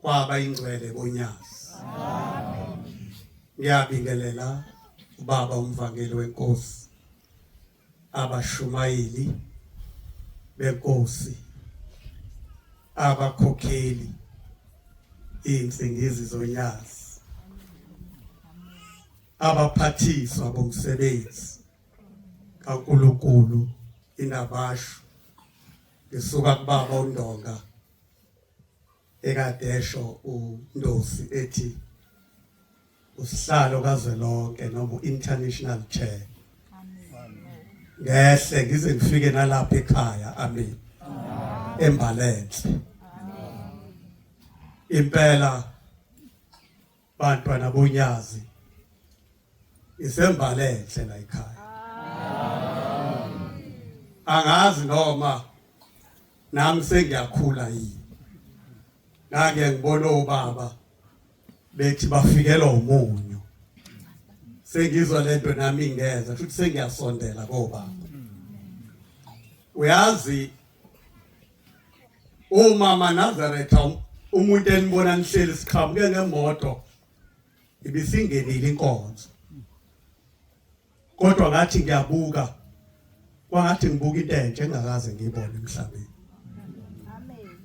kwaba ingcwele bonyazi ngiyabingelela ubaba umvangeli wenkosi abashumayeli benkosi abakhokheli insingizi zonyazi abaphathiswa bomsebenzi kaNkuluNkulu inabashu ngisuka kubaba uNdonga ekade esho uNdosi ethi usihlalo kazwelonke noma international chair ngehle ngize ngifike nalapha ekhaya amen embalenhle impela bantwana bonyazi isembalenhle la ekhaya angazi noma nami sengiyakhula yini ngake ngibona obaba bethi bafikelwa umunyu sengizwa lento nami ingeza futhi sengiyasondela kobaba uyazi Umama Nazaretha umuntu enibona nihleli siqhamuke ngemoto ibisingenile inkonzo. Kodwa ngathi ngiyabuka kwangathi ngibuka into entsha engakaze ngiyibone emhlabeni. Amen.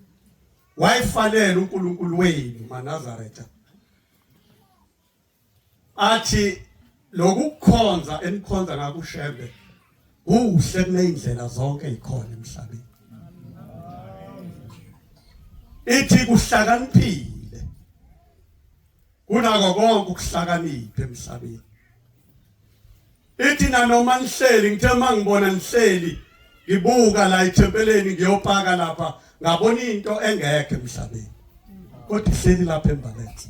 Wayifanele uNkulunkulu wenu MaNazaretha. athi lokukhonza enikhonza ngakho uShembe kuhle kuneyindlela zonke ikhona emhlabeni ithi kuhlakaniphile kunako konke ukuhlakanipha emhlabeni Ithi nanoma nihleli ngithe uma ngibona nihleli ngibuka la ethempeleni ngiyopaka lapha ngabona into engekho emhlabeni kodwa ihleli lapha embalensi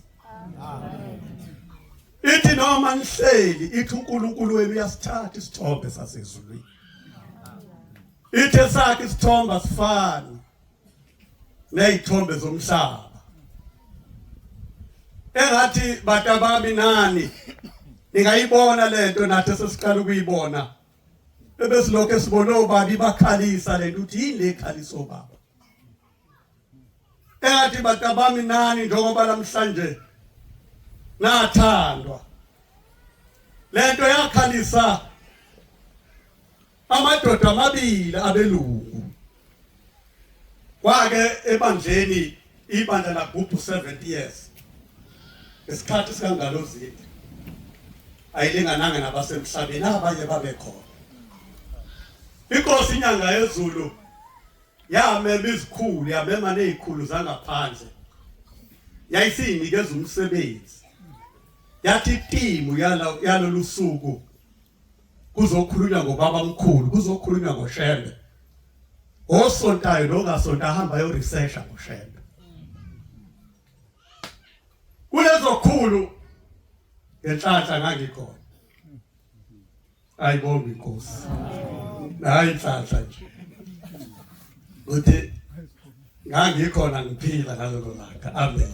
ithi noma nihleli ithi uNkulunkulu wenu uyasithatha isithombe sasezulwini ithe sakhe isithombe asifani nezithombe zomhlaba engathi batabami nani ningayibona lento nathi sesiqala ukuyibona ebesilokho esibone obaba ibakhalisa lento ukuthi yini le khalisa obaba engathi batabami nani njengoba namhlanje nathandwa lento yakhalisa Amadoda amabili abelungu kwake ebandleni ibandla lagubhu 70 years isikhathi sikangalozini ayilingananga nabasemhlabeni abanye babekhona inkosi inyanga yezulu yamema izikhulu yamema nezikhulu zangaphandle yayisiyinikeza umsebenzi yathi timu yalolu suku kuzokhulunywa ngobaba mkhulu kuzokhulunywa ngoshembe osontayo nongasonta ahamba yo research ngoshembe kulezo khulu ngenhlanhla ngangikhona ayibonga inkosi hayi inhlanhla nje uthi ngangikhona ngiphila ngalelo langa amen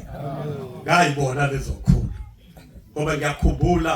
ngayibona lezo khulu ngoba ngiyakhumbula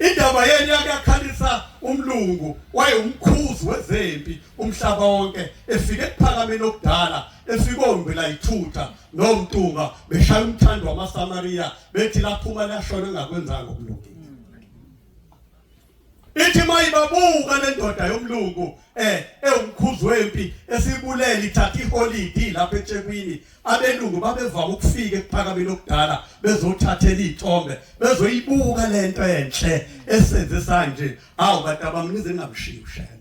indaba yenu yakuyakhalisa umlungu wayewumkhuzi wezempi umhlaba wonke efike ekuphakameni okudala efike ombi layithutha nomntunga beshaya umthando wamasamariya bethi laphuma lashona engakwenzanga okulungile ithi mayibabuka lendoda yomlungu eh ewumkhuzi wempi esibulele ithatha iholidi lapha eThekwini abelungu babevama ukufika ekuphakameni okudala bezothathela izithombe bezoyibuka lento enhle esenze sanje awu bantu abamnize ngamshiyi ushembe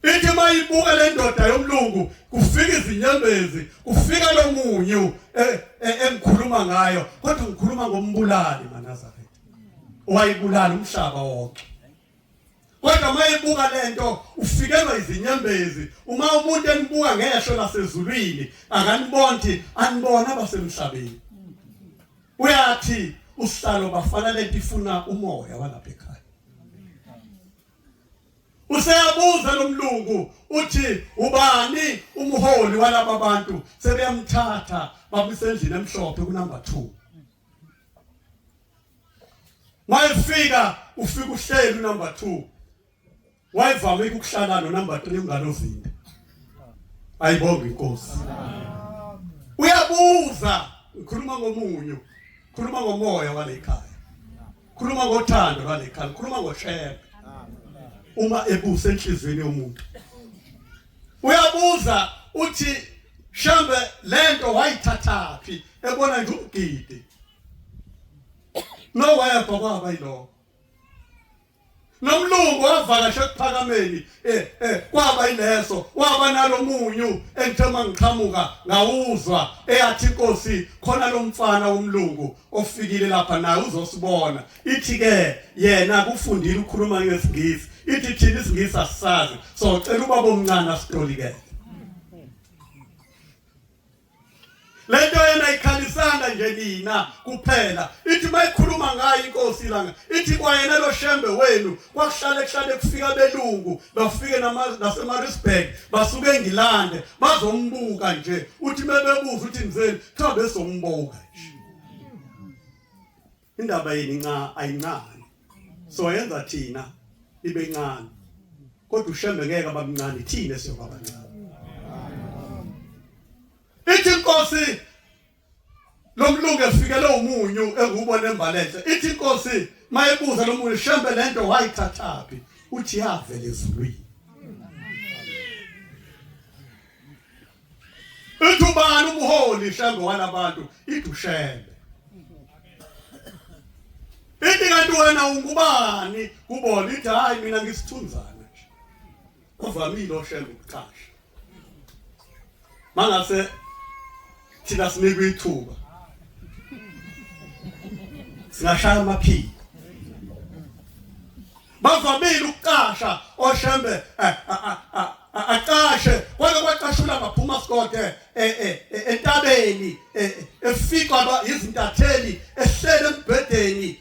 ithi mayibuka le ndoda yomlungu kufika izinyembezi kufika lo munyu e, e, engikhuluma ngayo kodwa ngikhuluma ngombulali manazaretha wayibulala umhlaba wonke kodwa mayibuka lento ufikelwa izinyembezi uma umuntu enibuka ngehlo lasezulwini akanibonthi anibona abasemhlabeni Uyathi usihlalo bafana lento ifuna umoya walapha ekhaya. Useyabuza lomlungu uthi ubani umholi walaba bantu sebeyamthatha babisendlini emhlophe ku number 2. Mayifika ufika uhleli number 2 Wayevame ukuhlala no number 3 unganovimbi. Ayibonge inkosi. Uyabuza ngikhuluma ngomunyu. Khuluma ngomoya walekhaya. Khuluma ngothando lwalekhaya, khuluma ngoshebe. Uma ebusa enhlizweni yomuntu. Uyabuza uthi shambe lento wayithathaphi ebona nje umgidi. No wayebhokwa bayiloko. nomlungu wavakasha ekuphakameni eh eh kwaba ileso waba nalomunyu engithema ngiqhamuka ngawuzwa eyathi inkosi khona lomfana womlungu ofikile lapha naye uzosibona ithi ke yena kufundile ukukhuluma ngesingisi ithi thina isingisi asisazi so cela ubaba omncane asitolikele lento yena ikhalisanga nje nina kuphela ithi mayikhuluma ngayo inkosi langa ithi kwayena lo shembe wenu kwakuhlale kuhlale kufika belungu bafike nasemarisburg basuke engilande bazombuka nje uthi mebebuza uthi ngizeni kuthiwa bezombuka nje Indaba yini nca ayincane. So yenza thina ibe incane. Kodwa ushembe ngeke abamncane thina siyoba abancane. Ithi inkosi lomlungu efikele umunyu engubona embalenhle. Ithi inkosi mayebuza lomunyu shembe lento wayithathaphi uthi yavela ezulwini. Uthi ubani umholi hlango walabantu idushele. Ithi kanti wena ungubani kubona ithi hayi mina ngisithunzana nje. Kuvamile oshela ukuqasha. Mangase thina sinikwe ithuba. Singashaya amaphiko. bavamile ukuqasha oshembe eh, aqashe kwake kwaqashula ngaphuma sikode eh, eh, eh, entabeni efikwa izintatheli ehlele embhedeni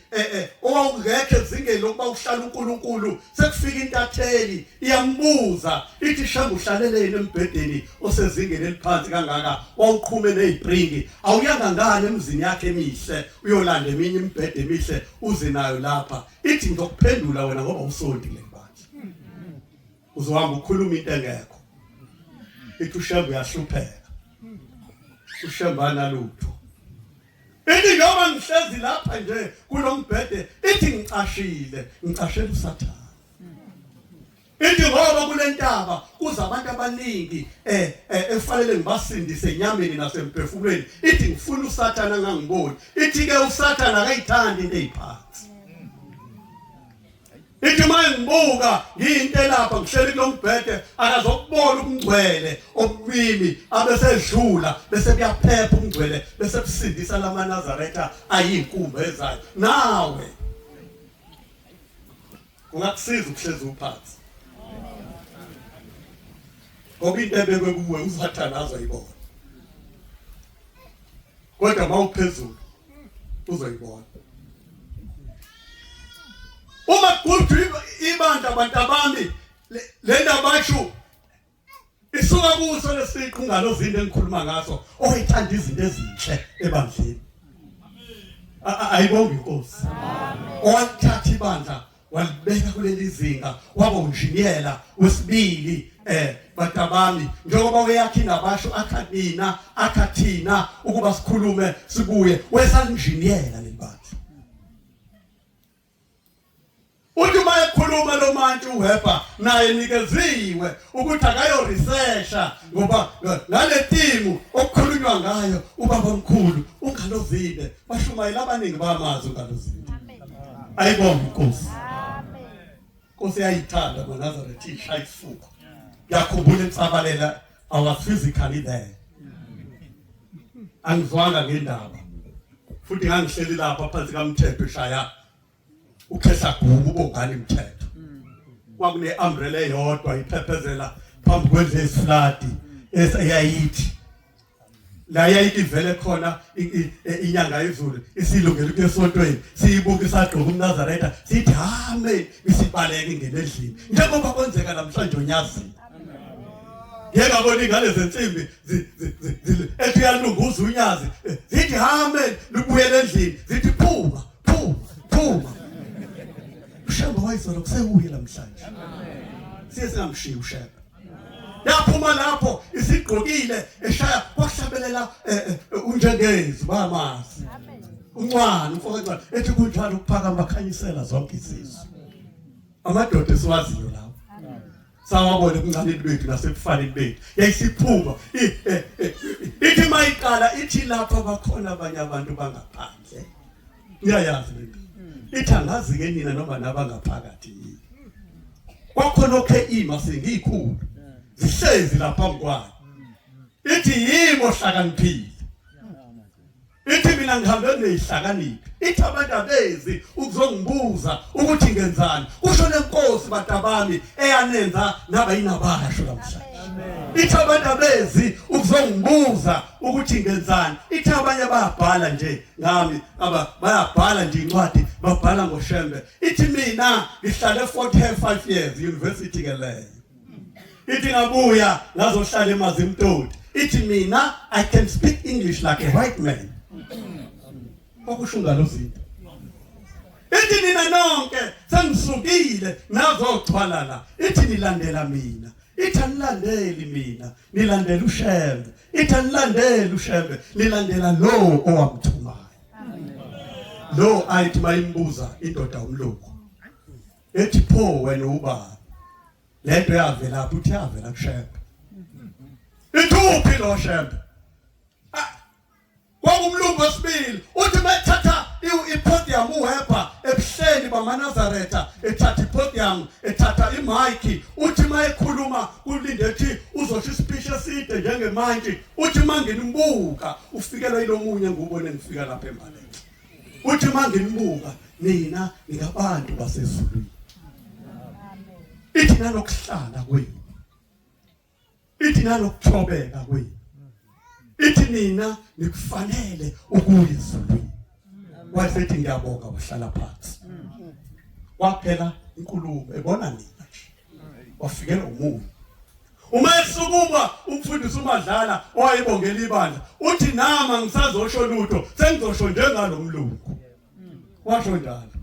owawungekho ezingeni lokuba uhlala uNkulunkulu sekufika intatheli iyambuza ithi shamba uhlaleleni embhedeni osezingeni eliphansi kangaka wawuqhume nezipringi awuyanga ngani emzini yakhe emihle uyolanda eminye imibhede emihle uze nayo lapha ithi ngizokuphendula wena ngoba usonti le bandla uzohamba ukhuluma into engekho ithi ushembe uyahlupheka ushembana lutho ithi noma ngihlezi lapha nje kulombhede ithi ngicashile ngicashela usathane Ithi ngoba kulentaba kuza abantu abaningi eh, eh efanele ngibasindise enyameni nasemphefumulweni. Ithi ngifuna uSathana ngangiboni. Ithi ke uSathana akayithandi into eziphansi. Ithi uma ngibuka ngiyinto elapha ngihleli kulombhede akazokubona ukungcwele obumimi abesedlula bese kuyaphepha umngcwele bese kusindisa lamaNazaretha ayinkumba ezayo. Nawe Kungakusiza ukuhlezi uphansi. Ngoba into ebekwe kuwe usathane azoyibona. Kodwa mawuphezulu uzoyibona. Uma kugudwa ibandla abantu abami le ndaba basho isuka kuso lesiqu ngalozinto engikhuluma ngaso oyithanda izinto ezinhle ebandleni ayibonge inkosi owathatha ibandla walibeka kuleli zinga waba unjiniyela wesibili eh batabami njengoba uyakhi nabasho akhathina akhathina ukuba sikhulume sibuye wesalinjiniyela lelibandla uthi uma ekhuluma lo mantshi uHepa naye nikeziwe ukuthi akayo researcha ngoba ngale timu okukhulunywa ngayo ubaba omkhulu ungalozile bashumayela abaningi bamazi ungalozile ayibonge inkosi Nkosi yayithanda maNazaretha ishaya isifuba. Yakhumbula insabalela I was physically there. Angizwanga ngendaba. Futhi ngangihleli lapha phansi kaMthetho eshaya ukhehla gubu bongani mthetho. Kwakune umbrella eyodwa iphephezela phambi kwendle esiflati esayayithi la yayivele khona e, inyanga izulu isilungela ukuthi esontweni siyibuka isagqoka umnazaretha sithi hame isibaleke ngenedlini njengoba kwenzeka namhlanje onyazini ngeke abona ingane zensimbi ethi uyalunguza unyazi eh, zithi hame libuyele endlini zithi phuma phuma phuma ushemba wayizolo kusekuye namhlanje siye singamshiyi ushemba yaphuma lapho isigqokile eshaya kwahlabelela eh, eh, unjengezi bamazi uncwana umfokancwana ethi kunjalo ukuphakama bakhanyisela zonke izizwe amadoda esiwaziyo lawo sawabona ebuncaneni bethu nasebufaneni bethu yayisiphuma eh, ithi mayiqala ithi lapha bakhona abanye abantu bangaphandle uyayazi le nto ithi angazi-ke nina noma nabangaphakathi yini kwakhona okhe ima sengiyikhulu zihlezi la phambi kwayo ithi yimo hlakaniphile ithi mina ngihambe neyihlakaniphi ithi abantu abezi ukuzongibuza ukuthi ngenzani kusho lenkosi batabami eyanenza naba yinabasho namhlanje ithi abantu abezi ukuzongibuza ukuthi ngenzani ithi abanye bayabhala nje ngami aba bayabhala nje incwadi babhala ngoshembe ithi mina ngihlale 45 years university ke leyo ithi ngabuya ngazohlala emazimtoti ithi mina i can speak english like a white man okusho ngalo zinto ithi nina nonke sengisukile nazochwalala ithi nilandela mina ithi anilandeli mina nilandela ushembe ithi anilandeli ushembe nilandela lo owamthumayo lo ayithi mayimbuza indoda umlungu ethi pho wena ubaba lento yavela phi uthi yavela kushembe ithuphi lo shembe Kwangumlungu wesibili uthi bethatha ipodium uHepa ebuhleni bamanazaretha ethatha ipodium ethatha imayikhi uthi mayekhuluma kulinde ethi uzosho isipisha eside njengemantshi uthi manginimbuka ufikelwa yilomunye ngubone ngifika lapha embaleni uthi manginimbuka nina ningabantu basezulwini ithi nanokuhlala kwenu ithi nanokuthobeka kwenu ithi nina nikufanele ukuya ezulwini wasethi ngiyabonga wahlala phansi kwaphela inkulumo ebona nina wafikela umuntu uma esukuma umfundisi umadlala owayebongela ibandla uthi nama ngisazosho lutho sengizosho njengalomlungu washo njalo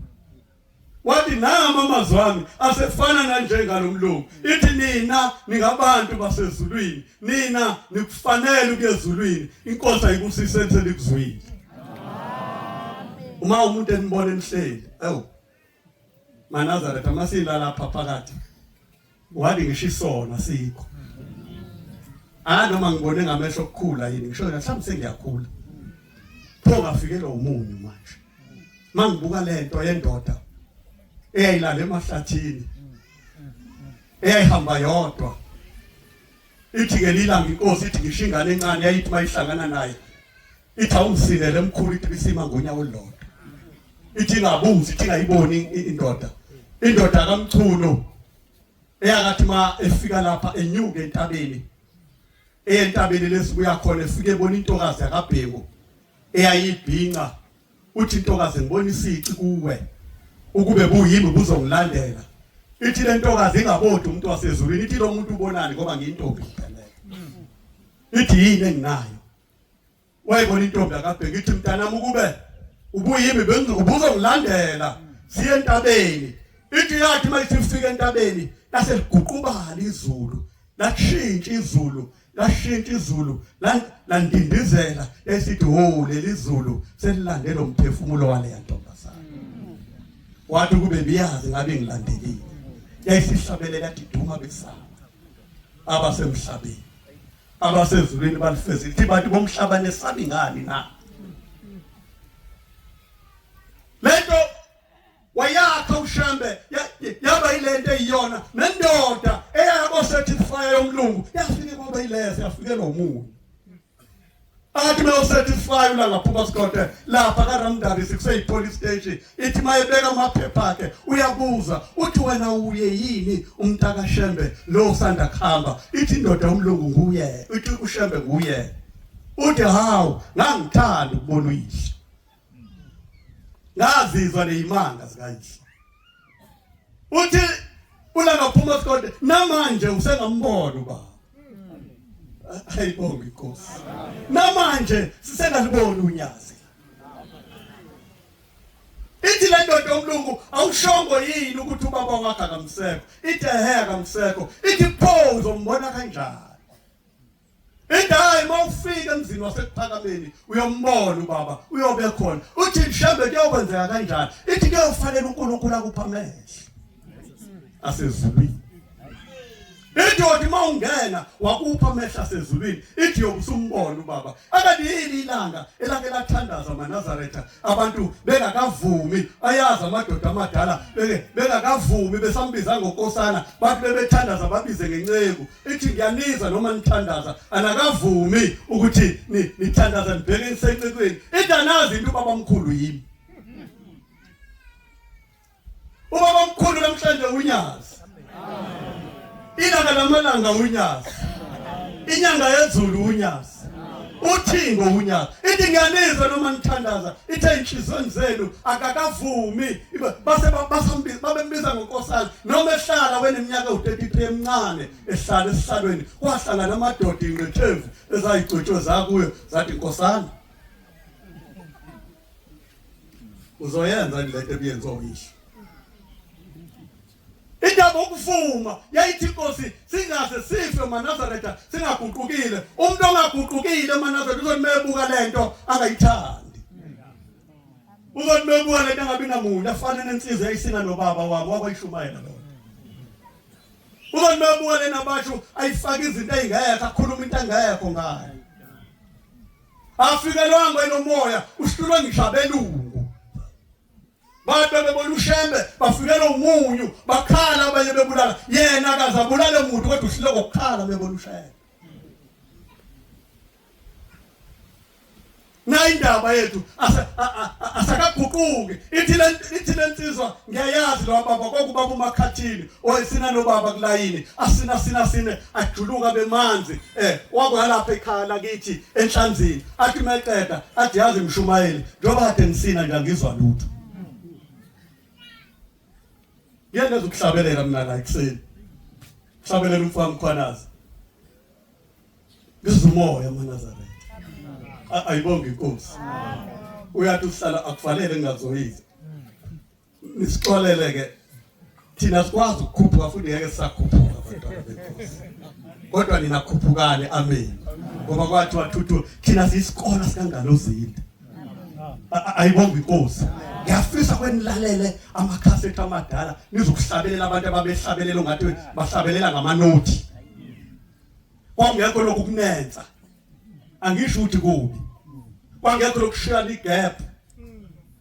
wathi nama amazwi ami asefana nanjengalomlungu ithi nina ningabantu basezulwini nina nikufanele ukuyezulwini inkosi ayibusise ethele kuzwini uma umuntu enibona enihleli awu manazareth amasilala phakathi Wathi ngisho isono asikho. Ah noma ngibone ngamehlo okukhula yini ngisho la mhlawumbe sengiyakhula. Pho ngafikelwa umunyu manje. Mangibuka lento yendoda eyayilala emahlathini eyayihamba yodwa ithi ngelilanga inkosi ithi ngisho ingane encane yayithi mayihlangana naye ithi awungisinele mkhulu ithi bisima ngonya olulodwa ithi ngabuzi ithi ngayiboni indoda indoda kamchunu eyakathi ma efika lapha enyuke entabeni entabeni lesibuya khona efike ebona intokazi yakabhengu eyayibhinca uthi intokazi ngibona isici kuwe ukube buyimi buzongilandela ithi le ntokazi ingabodi umuntu wasezulwini ithi lo muntu ubonani ngoba ngiyintombi ithi yini enginayo wayibona intombi akabheki ithi mntanami ukube ubuyimi bengizokubuza ngilandela siye entabeni ithi yathi uma isifika entabeni lase liguqubala izulu lashintsha izulu lashintsha izulu landindizela esithi ho leli zulu selilande lo mphefumulo wale yantombazana wathi kube biyazi ngabe ngilandelile yayisihlabelela diduma besaba abasemhlabeni abasezulwini balifezile ukuthi bantu bomhlaba nesabi ngani na lento wayakha ushembe yaba ilento eyiyona nendoda eyayabo certifier yomlungu yafike kwaba ilese yafikelwa umuntu athi bewusatisfy ulangaphuma sikhonde lapha karamdari sikuseyi-police station ithi mayebeka amaphepha akhe uyabuza uthi wena uye yini umntakashembe lo usanda kuhamba ithi indoda umlungu nguye ithi ushembe nguye uthi hawu ngangithanda ukubona uyise ngazizwa nezimanga zikayise uthi ulanga phuma sikonde namanje usengambona ubaba ayibonge inkosi namanje sisengaliboni unyazi ithi le ndoda yomlungu awushongo yini ukuthi ubaba wakhe akamsekho ithi ehe akamsekho ithi pho uzombona kanjani Indayi mawufika emzini wasekuphakameni uyombona ubaba uyobe khona uthi mhlambe kuyokwenzeka kanjani ithi kuyofanele uNkulunkulu akuphamele asezulwini Idodi mawungena wakupha amehla asezulwini ithi yokusumbona ubaba akade yini ilanga elake lathandaza amaNazaretha abantu bengakavumi ayazi amadoda amadala bengakavumi besambiza ngokosana bathi bebethandaza babize ngenceku ithi ngiyaniza noma nithandaza anakavumi ukuthi nithandaza nibheke isencikweni idanazi into ubaba omkhulu yimi ubaba omkhulu namhlanje unyazi ilanga lamalanga unyazi inyanga yezulu unyazi uthi ngowunyaka ithi ngiyanizwa noma nithandaza ithe inhliziyweni zenu akakavumi base basambiza babembiza ngonkosana noma ehlala weneminyaka u33 emncane ehlala esihlalweni kwahlala namadoda ingqethemvu ezayigcotshwe zakuyo zathi nkosana uzoyenza lento ebiyenziwa uyihlo Indaba yokuvuma yayithi inkosi singaze sife maNazaretha singaguqukile. Umuntu ongaguqukile maNazaretha uzothi mebuka lento angayithandi. Uzothi mebuka lento angabi namuntu afana nensizwa eyisina nobaba wabo wakwayishumayela lo. Uzothi mebuka lena basho ayifaka izinto ezingekho akhuluma into engekho ngayo. Afikelwanga enomoya uhlulwa ngisho abelungu. Bathi bebebona uShembe bafikelwa umunyu bakhala abanye bebulala yena akaze abulale muntu kodwa uhlile kokukhala bebona uShembe. nayindaba yethu asakaguquki ithi le ithi lensizwa ngiyayazi lo baba kokubaba umakhathini Wayesina nobaba kulayini asina sina sine ajuluka bemanzi eh wakwalapha ekhaya lakithi enhlanzini athi meqeda athi yazi mshumayeli njengoba kade nisina nje angizwa lutho Ngeke ukuhlabelela mina la ekseni Hlabelela umfana mkhwanazi Ngizumoya manazaretha ayibonge inkosi uyathi uhlala akufanele ngingazoyiza Nisixolele ke thina sikwazi ukukhuphuka futhi ngeke sisakhuphuka abantwana benkosi. Kodwa nina khuphukani amen. Ngoba kwathi wathuthu thina siyisikole sikangalozinde. Ayibonga inkosi. Ngiyafisa kwenilalele amakhasethi amadala nizokuhlabelela abantu ababehlabelela ngathi bahlabelela ngamanothi. Kwangekho lokhu kunenza. Angisho ukuthi kubi. Kwangekho lokushiyana igap.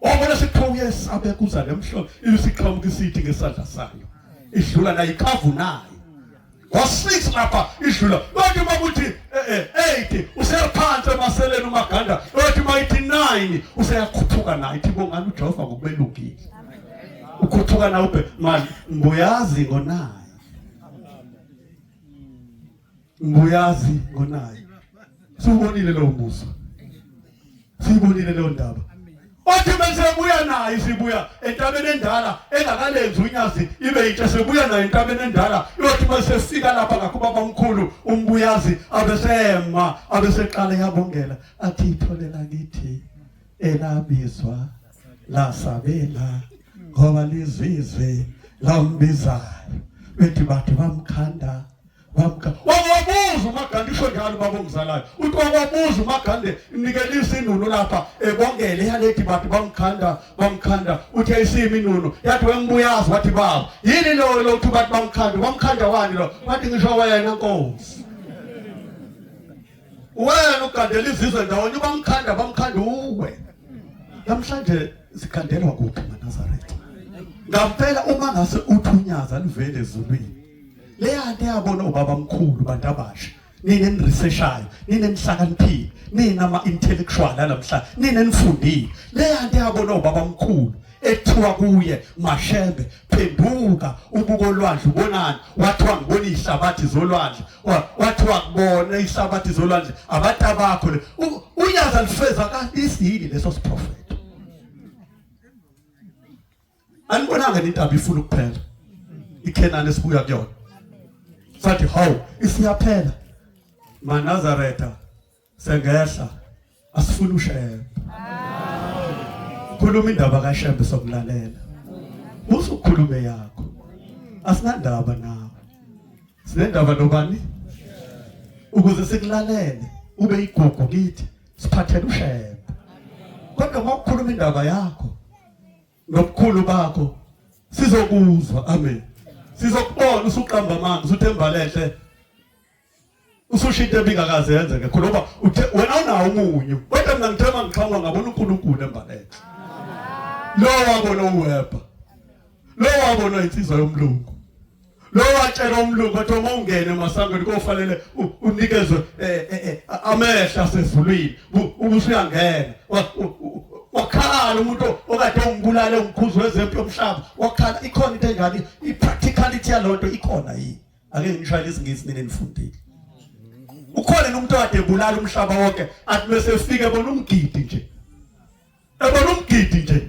Wabona siqhawu yesabe kuza nemhlolo isiqhamuka isithi ngesandla sayo. Idlula nayo ikhavu nayo. Wasix lapha idlula. Bathi bakuthi eh 8 eh, usephansi emaseleni umaganda. Bathi bayithi 9 useyakhuphuka nayo ithi bongani uJehova ngokubelungile. Ukhuphuka nawe manje mbuyazi ngonayo. Nguyazi ngonayo. Siwubonile lo mbuso. Siwubonile lo ndaba. Wathi bese buya naye sibuya entabeni endala engakalenzi unyazi ibe yitshe sebuya naye entabeni endala yothi bese fika lapha ngakho baba omkhulu umbuyazi abesema abeseqala yabongela athi itholela kithi elabizwa lasabela ngoba lizizwe lambizayo bethi bathi bamkhanda wakuwabuza umagande isho njalo baba ongizalayo uthi wakuwabuza umagande nikela isinuno lapha ebongele yalethi bathi bamkhanda bamkhanda uthi ayisimi inuno yathi wembuyazi wathi baba yini loyo lokuthi bathi bamkhanda bamkhanda wani lo wathi ngisho wena nkosi wena ugandela izizwe ndawonye bamkhanda bamkhanda uwe namhlanje sikhandelwa kuphi manazaretha ngampela uma ngase uthunyaza livele ezulwini leyanto yabona ubaba mkhulu bantu abasha nina niriseshayo nina nihlakaniphile nina ama-intellectual namhlanje nina nifundile leyanto yabona ubaba mkhulu ekuthiwa kuye mashembe phenduka ubuko olwandle ubonani wathiwa ngibona ihlabathi zolwandle wathiwa kubona ihlabathi zolwandle abantu abakho le unyaza lifeza kanti isiyini leso siprofethi anibonanga indaba ifuna ukuphela ikhenani esibuya kuyona sathi hawu isiyaphela manazaretha sengehla asifuni ushembe khuluma indaba kashembe sokulalela musa ukhulume yakho asinandaba nawe sinendaba nobani ukuze sikulalele ube igugu kithi siphathele ushembe kodwa ngokukhuluma indaba yakho nobukhulu bakho sizokuzwa amen sizokubona usuqamba amanzi usuthemba lehle ususho into ebingakaze yenzeke khona ngoba uthe wena unawo umunyu kodwa mina ngithe uma ngixhamula ngabona unkulunkulu embalele lowo wabona uwebha lowo wabona insizwa yomlungu lo watshela umlungu wathi uma ungene emasangweni kofanele unikezwe eh, eh, eh, amehla asezulwini ubusuyangena wakhala umuntu okade ungibulale umkhuzi wezempi yomhlaba wakhala ikhona into enjani i-practicality yalonto ikhona yini ake ngishayele isingisi nini nifundile ukhona nomuntu okade ebulala umhlaba wonke athi bese efike bona umgidi nje ebona umgidi nje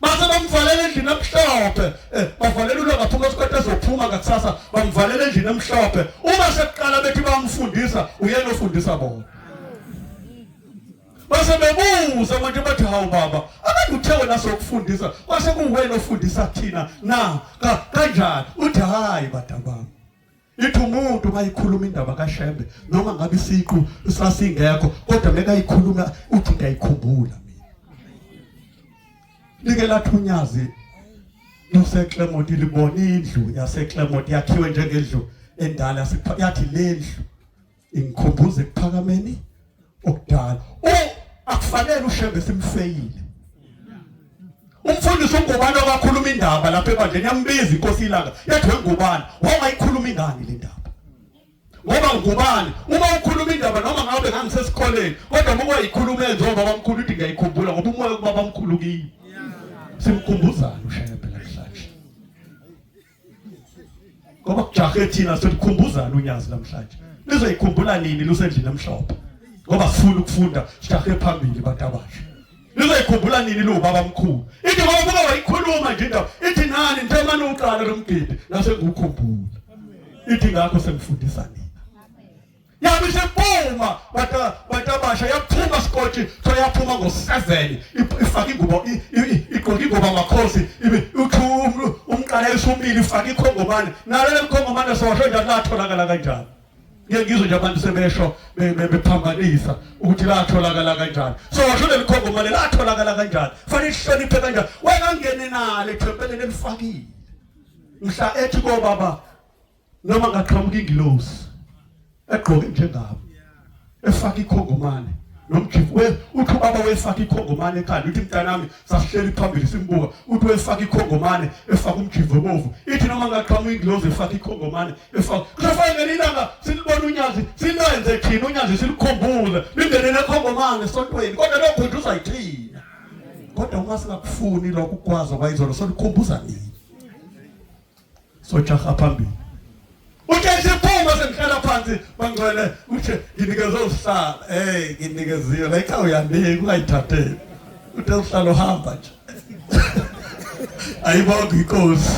base bamvalela endlini emhlophe eh, bavalela ulwa ngaphuma esikhathi ezophuma ngakusasa bamvalela endlini emhlophe uma sekuqala bethi bamfundisa uyena ofundisa bona base bebuza manje bathi hawu baba abantu uthe wena sokufundisa kwase kuwena ofundisa thina na kanjani uthi hayi badabami Ithi umuntu mayikhuluma indaba kaShembe noma ngabe isiqu sasingekho kodwa mekayikhuluma uthi ngiyayikhumbula mina. Like lathunyazi useClermont libona indlu yaseClermont yakhiwe njengendlu endala yathi lendlu ingikhumbuza ekuphakameni okudala u akufanele ushembe simfeyile umfundisi ungubani okakhuluma indaba lapha ebandleni yambiza inkosi ilanga yathi wengubani wangayikhuluma ingani le ndaba ngoba ngubani uma ukhuluma indaba noma ngabe ngangisesikoleni kodwa uma kwayikhuluma enze ubaba mkhulu uthi ngiyayikhumbula ngoba umoya kubaba mkhulu kimi simkhumbuzana ushaya ngoba kujahe thina selikhumbuzana unyazi namhlanje lizoyikhumbula nini lusendlini emhlophe ngoba sifuna ukufunda sijahe phambili batabashe lizoyikhumbula nini liwubaba mkhulu ithi ngoba kuba wayikhuluma nje indaba ithi nani njengamane uqala lomgidi nasengukhumbula ithi ngakho sengifundisa nini yabe isempuma batabasha yaphuma sikoti so yaphuma ngo-seven ifake ingubo igqoke ingubo amakhosi umqala esumile ifake ikhongomane nalele mkhongomane sowasho njani latholakala kanjani ngeke ngizwe nje abantu sebesho bephambanisa ukuthi latholakala kanjani so washo leli khongomane latholakala kanjani fanele ihloniphe kanjani wena ngene nalo ethempeleni elifakile mhla ethi kobaba noma ngaqhamuka ingilosi egqoke njengabo efaka ikhongomane nomjifu we uthi ubaba wefaka ikhongomane ekhanda uthi mntanami sasihleli phambili simbuka uthi wefaka ikhongomane efaka umjifu ebovu ithi noma ngaqhamuka ingilosi efaka ikhongomane efaka kusafike ngelinye ilanga silibona unyazi silenze thina unyazi silikhumbule lingenele ekhongomane esontweni kodwa lokho nje uzayithina kodwa uma singakufuni lokho ukwazi kwayizolo solukhumbuza nini sojaha phambili uthe siphuma sengihlala phansi bangcwele uthe nginikeze usihlala hey nginikeziwe la ikhaya uyanika ungayithatheli uthe usihlala uhamba nje ayibonga inkosi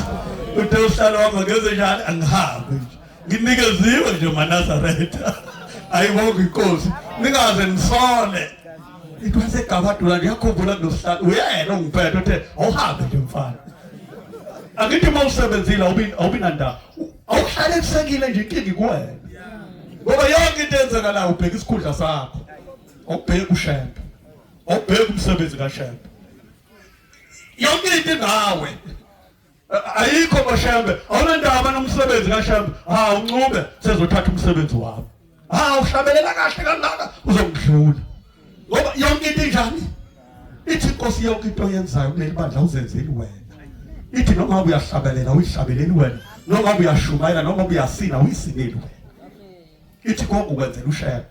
uthe usihlala uhamba ngeze njalo angihambe nje nginikeziwe nje manazaretha ayibonga inkosi ningaze nisole it was egabadula ngiyakhumbula nosihlalo uyena ongiphethe uthe awuhambe nje mfana angithi uma usebenzile awubi nandaba awuhlale kusekile nje inkinga ikuwena ngoba yonke into enzekalayo ubheka isikhundla sakho awubheki ushembe awubheki umsebenzi kashembe yonke into ngawe ayikho bashembe awunendaba nomsebenzi kashembe ha uncube sezothatha umsebenzi wami ha uhlabelela kahle kangaka uzongidlula ngoba yonke into injani ithi inkosi yonke into oyenzayo kuleli bandla uzenzeli wena ithi noma uyahlabelela uyihlabeleli wena noma uyashumayela noma uyasina uyisineli wena ithi konke ukwenzela ushebe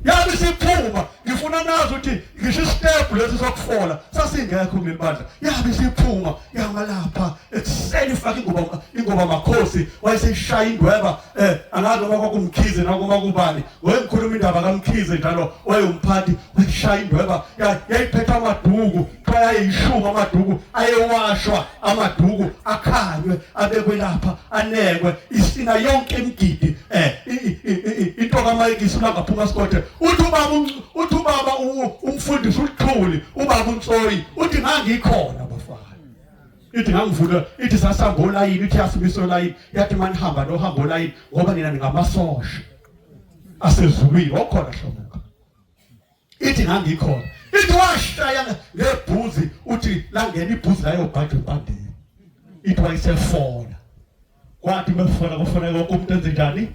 yazi isiphuba ngifuna nazi ukuthi ngisho isitepu lesi sokufola sasingekho kuleli bandla yabe isiphuma yangalapha ekuseni ifake ingoba ingoba makhosi wayesishaya indweba eh angazi noma kwakumkhize noma kubani wayengikhuluma indaba kamkhize njalo wayomphathi wayishaya indweba yayiphetha amaduku Kuthiwa ayimshuba amaduku ayewashwa amaduku akhanywe abekwe lapha anekwe isina yonke imigidi eh into kaMike isina ngaphuma sikothe uthi ubaba uthi ubaba umfundisi uthuli ubaba uNsoyi uthi ngangikhona ithi ngangivula ithi sasihamba olayini ithi yasibisa olayini yathi manihamba nohamba olayini ngoba nina ningamasosha asezulwini okhona hlobo ithi ngangikhona ithi washaya ngebhuzi uthi langena ibhuzi layo bhajwe bandini ithi wayisefona kwathi mefona kufona konke umuntu enze njani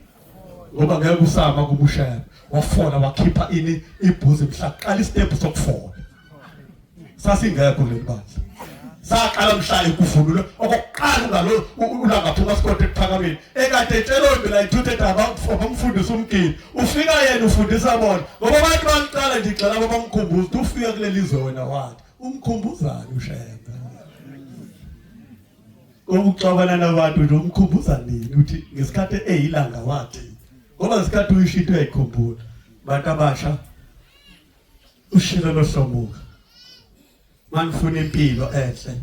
ngoba ngeke usama kubushela wafona wakhipha ini ibhuzi mhla qala istep sokufona sasingekho leli bandla saqala mhla ekuvulule okokuqala ungalo ulangaphuma sikode ekuphakameni ekade etshela impi la ithuthe daba abamfundisa umgidi ufika yena ufundisa bona ngoba abantu baqala nje igxela abamkhumbuza ukuthi ufika kuleli zwe wena wathi umkhumbuzani ushembe okuxabana nabantu nje umkhumbuza nini uthi ngesikhathi eyilanga wathi ngoba ngesikhathi uyishinto uyayikhumbula bantu abasha ushilo lohlomuka manifuna impilo enhle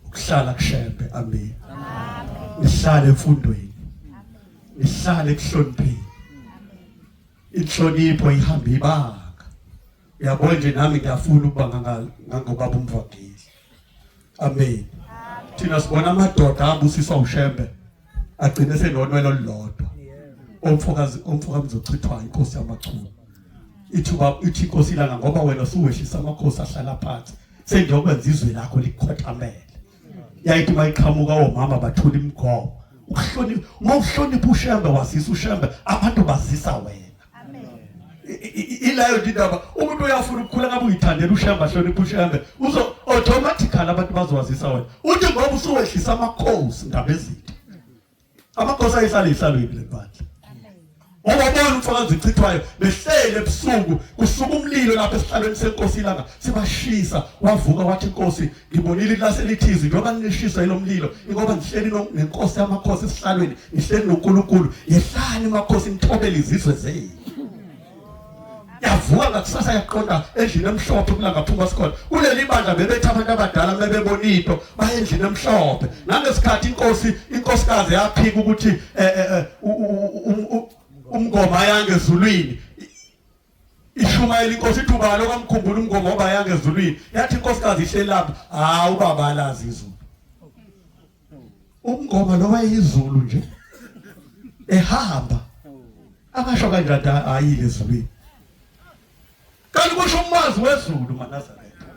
ukuhlala kushembe amen nihlale emfundweni nihlale kuhlonipheni inhlonipho ihamba ibanga uyabona nje nami ngiyafuna ukuba ngangobaba umvangeli amen thina sibona amadoda abusiswa ushembe agcine senonwelo lodwa omfokazi omfokamzi ochithwa inkosi yamachunu ithi uba ithi inkosi ilanga ngoba wena suwehlisa amakhosi ahlala phansi sengiyokwenza izwe lakho likhothamele yayithi uma iqhamuka omama bathula imigomo ukuhlonipha uma uhlonipha ushembe wazisa ushembe abantu bazisa wena ilayo indaba umuntu uyafuna ukukhula ngabe uyithandela ushamba hlonipha ushambe uzo automatically abantu bazowazisa wena uthi ngoba usuwehlisa amakhosi ngabezitha amakhosi ayisale isalweni lebandla ngoba bona umfakazi uchithwayo behlele ebusuku kusuka umlilo lapha esihlalweni senkosi ilanga sibashisa wavuka wathi inkosi ngibonile ilase lithizi njengoba nilishisa yilo mlilo ingoba ngihleli nenkosi yamakhosi esihlalweni ngihleli noNkulunkulu yehlani makhosi nithobele izizwe zenu yavuka ngakusasa yaqonda endlini emhlophe kulangaphuma sikhona kuleli bandla bebethi abantu abadala bebebona into baye endlini emhlophe nangesikhathi inkosi inkosikazi yaphika ukuthi eh, eh, eh, umngoma yangezulwini Ishumayela inkosi ithi ubani okamkhumbula umgomo oba yanga ezulwini yathi inkosikazi ihleli lapha hawu ubaba alazi izulu umngoma lo wayeyizulu nje ehamba akasho kanjani ayile ezulwini kanti kusho umwazi wezulu manazaretha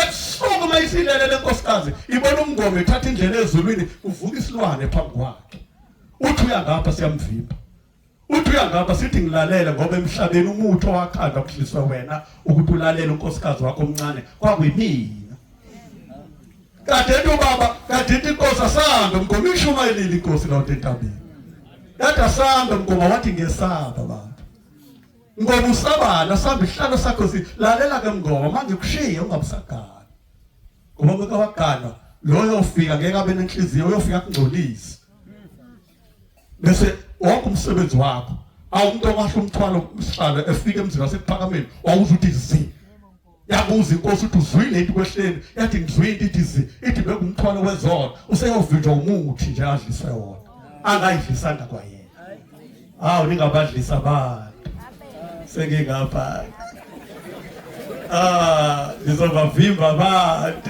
ebusuku uma isilele le nkosikazi ibona umngoma ethatha indlela ezulwini uvuka isilwane phambi kwakhe uthi uya ngapha siyamvimba Uthi uyangaba sithi ngilalele ngoba emhlabeni umuthi owakhandwa kuhliswe wena ukuthi ulalele unkosikazi wakho omncane kwakuyimina. Kade ethi ubaba kade ithi inkosi asambe mgomo ishumayelile inkosi lawonto entabeni. Kade asambe mgomo wathi ngesaba baba. Ngoba usabana samba isihlalo sakho si lalela ke mngoma manje kushiye ungabusagana. Ngoba beka wagana loyo ofika ngeke abe nenhliziyo uyofika kungcolisi. bese wonke umsebenzi wakho awumuntu okwasho umthwalo usihlalo efika emzini wasekuphakameni wawuza uthi zi yabuza inkosi ukuthi uzwile into kwehleni yathi ngizwile into ithi zi ithi bekungumthwalo wezona useyovinjwa umuthi nje adlise wona angayidlisanga kwayena hawu ningabadlisa abantu sengingapha ah ngizobavimba abantu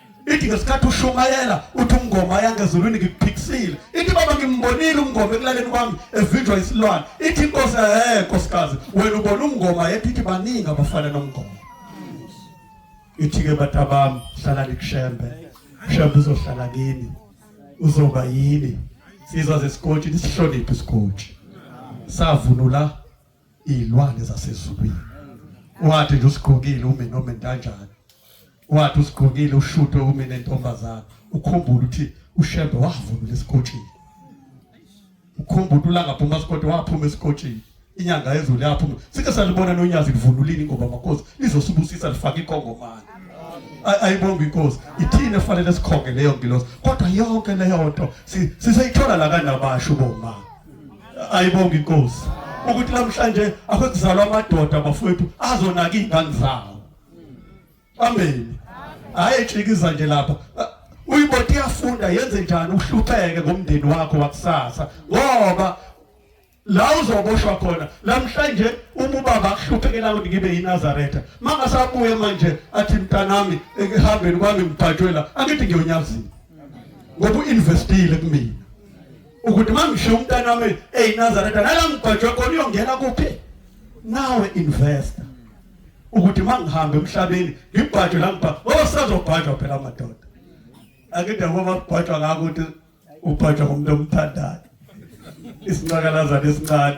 ithi ngesikhathi ushumayela uthi umngoma yangezulwini ngikuphikisile ithi baba ngimbonile umngoma ekulaleni kwami evinjwa isilwane ithi inkosi he nkosikazi wena ubona umngoma yethu ithi baningi abafana nomngoma ithi-ke batabami hlalani kushembe shembe uzohlala kini uzoba yini sizwa zesikotshi nisihloniphe isikotshi savunula izilwane zasezulwini wathi nje usigqokile umi noma entanjani wathi usigqokile ushute umi nentombazana ukhumbula ukuthi ushembe wavunula esikotshini ukhumbula ulanga phuma esikoti waphuma esikotshini inyanga yezulu yaphuma sike salibona nonyazi livunulini ngoba makhosi lizosibusisa lifake ikongomani ayibonga inkosi ithini efanele sikhonge leyo ngilosi kodwa yonke leyo nto siseyithola la kanabasho bomama ayibonga inkosi ukuthi namhlanje akuzalwa amadoda bafowethu azonaka izingane zawo amen hayi ejikiza nje lapha uyiboti iyafunda yenze njani uhlupheke ngomndeni wakho wakusasa ngoba la uzoboshwa khona namhlanje uma ubaba akuhluphekela ukuthi ngibe yinazaretha mangasabuye manje athi mntanami ehambeni kwami ngibhajwela angithi ngiyonyazini ngoba uinvestile kumina ukuthi uma ngishiya umntana wami eyinazaretha nala ngigwajwe khona uyongena kuphi nawe investor ukuthi uma ngihambe emhlabeni ngibhajwe la ngibha ngoba sazobhajwa phela amadoda akide ngoba kubhajwa ngako ukuthi ubhajwa ngomuntu omthandayo isinqakalazana esincane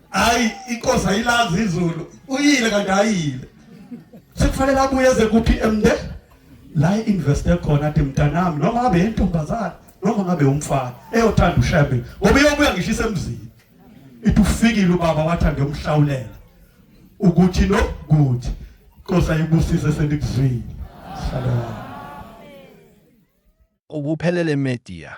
hayi inkosi ayilazi izulu uyile kanti ayile sekufanele abuye eze kuphi emnde la investe khona athi mntanami noma ngabe yentombazana noma ngabe umfana eyothanda ushebe ngoba iyobuya ngisho isemzini ithi ufikile ubaba wathi angiyomhlawulela ukuthi no good inkosi ayibusise senikuzwile shalom ukuphelele media